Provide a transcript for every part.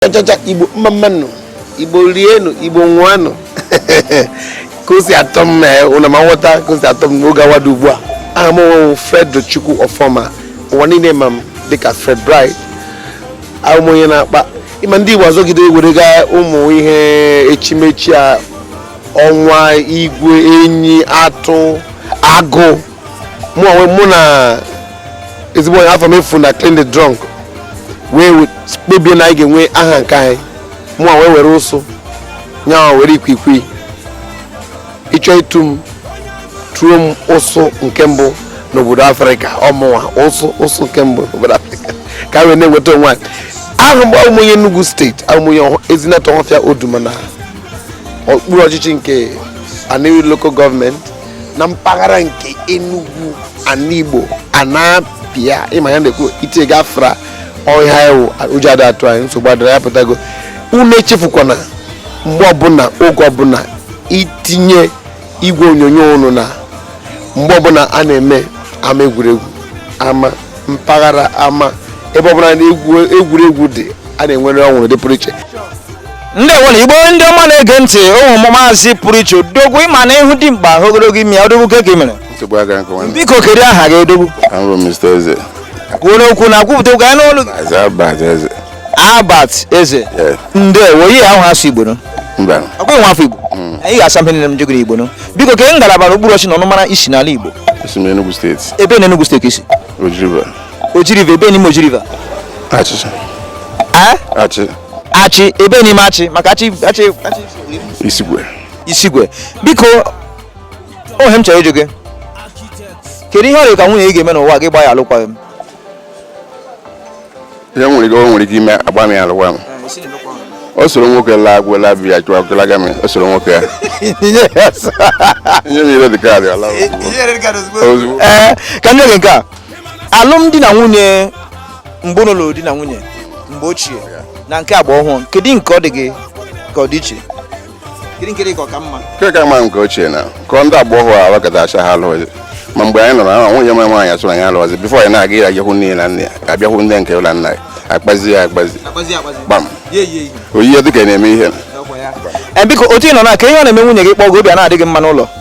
chachacha igbo mma mmanụ igbo rienụ igbo ṅụanụ ka o si atọ m ee, unu ama aghọta ka o si atọ m n'oge awa dị ugbu a aha m wụ fred chukwu ọfọma ụwa niile ma m dịka fred bright awụ m onye na-akpa ịma ndị igbo azọgide werega ụmụ ihe echimechi a ọnwa igwe enyi atụ agụ mụ onwe mụ na ezigbo enyi Afamefuna Klint da Drunk wee kpebie na anyị ga-enwe aha nke anyị mụ wee were ụsụ nyawa were ikwikwii ị chọọ itu m tuo m ụsụ nke mbụ n'obodo afrịka ọ mụwa ụsụ ụsụ nke mbụ n'obodo afrịka ka wee na-enweta onwe anyị ahụ mgbe awụ m onye Enugu steeti awụ m onye ezinatọ ohofịa oduma na okpuru ọchịchị nke Aninri local gọọmenti na mpaghara nke Enugu ana Igbo a na-abịa ịma ya na-ekwu itie gafra ọhịa ewu ụjọ adị atụ anyị nsogbu adịra ya pụtago unu echefukwana mgbe ọbụla oge ọbụla itinye igwe onyonyo unu na mgbe ọbụla a na-eme ama egwuregwu ama mpaghara ama ebe ọbụla na egwuregwu dị a na-enwere ọnwụrụ dị pụrụ iche ndewonụ igbo ndị ọma na-ege ntị awụ m maazị pụrụ iche odogwu ịma na ịhụ dị mkpa ogologo ime ya odogwu kee ka ị mere nsogbu aga nke nwanne biko kedu aha gị odogwu abụ m Mr. Eze kwuo n'okwu na kwupụta okwu ka anyị nụ olu gị. aza Albert eze Albert Eze Yes. ndewo ihe ahụ asụ igbo no mba ọkwa nwa afọ igbo anyị ga-asa mpe nile m jegoro igbo no biko kee ngalaba na okpuru ọchịchị na ọnụmara i si n'ala igbo esi m Enugu steeti ebee na Enugu steeti i si Oji River Oji River ebee n'ime Oji River achị achị achị ebee n'ime achị maka achị achị isikwe isikwe biko ihe m chọrọ ịjụ gị kedu ihe ọ dị gị ka nwunye gị ga-eme n'ụwa gị gbaa ya alụkwaghị m ihe nwere ike o nwere ike ime agba m ya alụkwaghị m o soro nwoke laa agwụ laa biya chụọ agụlaga m o soro nwoke ya enye m ya red kaadị ọ laa ozugbo ee ka m nye gị nke a alụmdi na nwunye mgbe ọlụlụ di na nwunye mgbe ochie na nke agba ọhụrụ kedu nke ọ dị gị ka ọ dị iche kedu nke dị ka ọ ka mma nke ka mma nke ochie maka ndị agba ọhụrụ ahụ gadacha ha alụghị ma mgbe anyị nọrọ ahụ nwunye mara nwaanyị asụrụ anyị alụghịzi bifo anyị na-aga ya ahụ nne na nna abịa hụ ndị nke ụlọ nna ya akpazie ya akpazi gbam oyiye dịka na-eme ihe biko otu ị nọ na ka ihe ọ na-eme nwunye gị kpọọ gị obi a na-adịghị mma n'ụlọ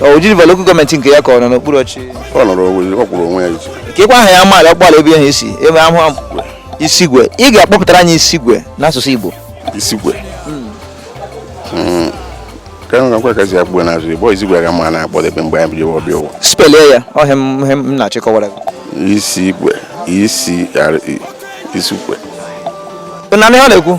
Oji River lokal gọọmenti nke ya ka ọ nọ n'okpuru ọchịchị ọ nọrọ onwe ya, ọ kwụrụ onwe ya iche keekwa aha ya amaala ọ kpọala ebe ahụ isi ebe ahụ isigwe ị ga-akpọpụtara anyị isigwe n'asụsụ Igbo isigwe Mm. ka m gwakwa ka e si akpọ n'asụsụ Igbo isigwe aga m na-akpọdebe mgbe anyị bidowe ọbịa ụwa spelie ya ọ ihe m ihe m na-achọ ịkọwara gị isigwe isi isigwe Ị na-anụ ihe ọ na-ekwu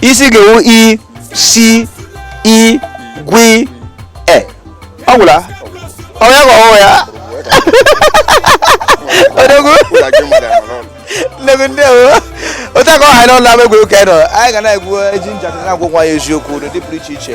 isi ga-ewu i si i gwi e ọ gwụla onye ka ọhụụ ya odogwu n'egwu ndị ewu otu aka ọ ha n'ụlọ ama egwuregwu ka anyị nọ anyị ga na-egwu e ji njakịrị na-agwa onwe anyị eziokwu n'ụdị pụrụ iche iche